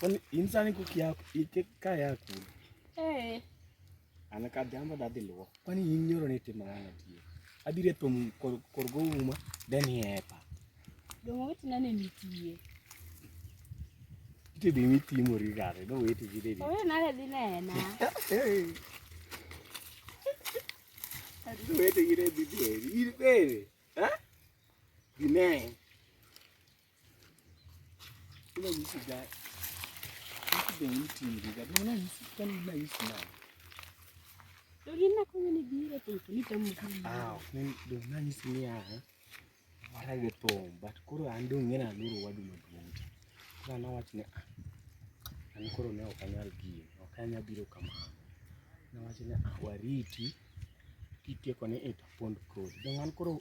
Kwani insani kuki yako ike ka yako. Eh. Ana ka jamba da dilwo. Kwani inyoro ne tima wana tie. Abire pom kor kor go uma then yepa. Dongo wetu nane mitie. Ite bi mitie mori gare do wetu gide bi. Owe nale dinena. Eh. Adu wetu gide bi bi. Ire bere. Ha? Dinena. nanyisi niya warage thum but koro an dong' ng'e naloro wadu maduong' cha koro an awach ni ah, an koro ne ok anyal gini ok anyal biro kamano nawach ni ah, wariti kitieko ni itapond kodi dong' an koro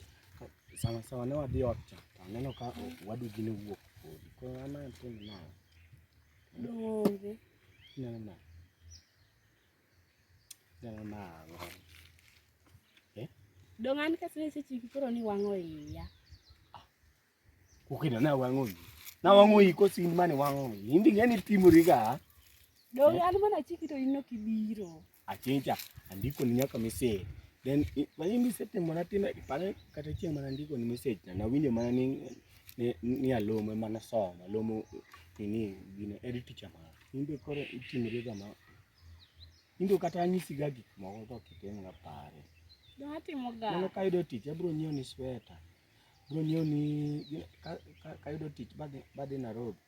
Sawa sawa ne wadhi ot cha, to aneno ka owadu gini owuok podi. Koro an atim nang'o? Donge. Ineno nang'o? Ineno nang'o? Dong' an kasene sechiki koro ni wang'o iya. Ukina na wango yi. Na wango yi ko sin mane wango yi. Hindi ngani timori ga. Do eh? an mana chiki to inno kibiro. Achincha andiko ni nyaka message. Then mani message mana tina ipale kata chieng mana andiko ni message na nawinjo mana ni ni, ni alome mana soma lomo ini gino edit teacher mana. Hindi kore itimori ga ma. Hindi kata anyisi ga gik moko to kiteng' ga pare. Mano ka ayudo tich abiro nyiewo ni sweta. Bro ng'eyo ni kayudo tich badhi Nairobi,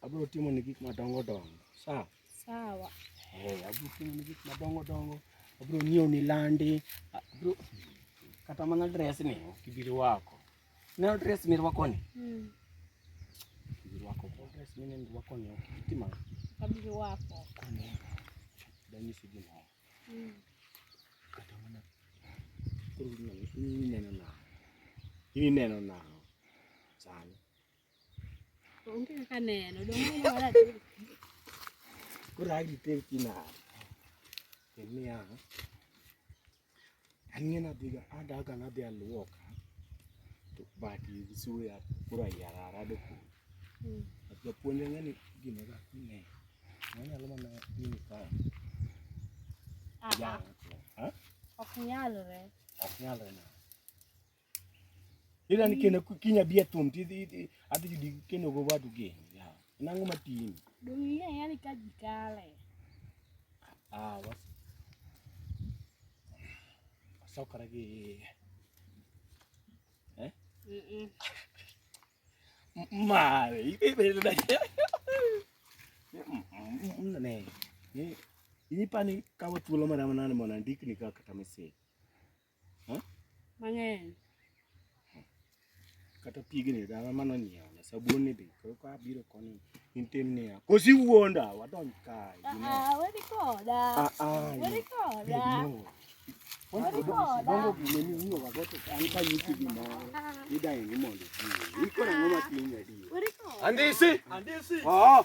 abro timo ni gik madongo dongo. Sawa? Sawa. Eh, abro timo ni gik madongo dongo. Abro ng'eyo ni landi. Abro kata mana dress ni kibiro wako. Neno dress mi rwako ni? Mm. Kibiro wako ko dress mi neno rwako ni. Tima. Kibiro wako. Kone. Danyisi gimoro. ineno nang'o? In ineno nang'o sani? Onge kaka neno, koro agiteri tinade? Kendo niya Ang'e nadhi ga adaga nadhi aluoka to bati gi suya koro ayara arado kuno. Mm. Japuonj ang'e ni gima ga ne. Wanyalo mana nini kae. Ah, ah. Yara. Ha? Ok nyalre. Ok nyalre na. Ila ni kene kinya bia tum ti ti ati judi kene go wadu ge. Ya. Nangu matin. Dunia yani kaji kale. Ah, was. Sokara ge. Eh? Mm. -mm. Mare, ibe be da. Mm, ne. Ni ni pani kawa tulo mara manana mwana ndikni kaka tamese. Mang'eny. Kata pigni dala mano nyiewo na sabun ni be koro ka biro koni in tim niya. Kosi wuonda wadonj kae. Ah, ah, wedi koda. Ah, ah. Wedi koda. Wedi koda. Bongo gine ni uyo wagoto an ka yuti gimoro. Ida ni mondo. Iko na ngoma tinga di. Wedi koda. Andisi. Andisi. Oh.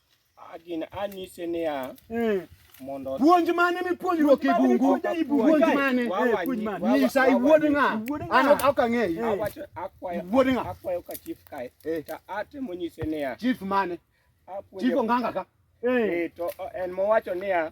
Agina anyise niya. Eh. Mondo puonj mane mipuonjruok e bungu? Puonj mane? Eh, puonj mane? Nyisa iwuod ng'a? An ok ang'eyi. Eh. Awacho akwayo. Iwuod ng'a? Akwayo ka chief kae. Ta atemo nyise niya. Chief mane? Chief Onganga ka. Eh to en mowacho niya.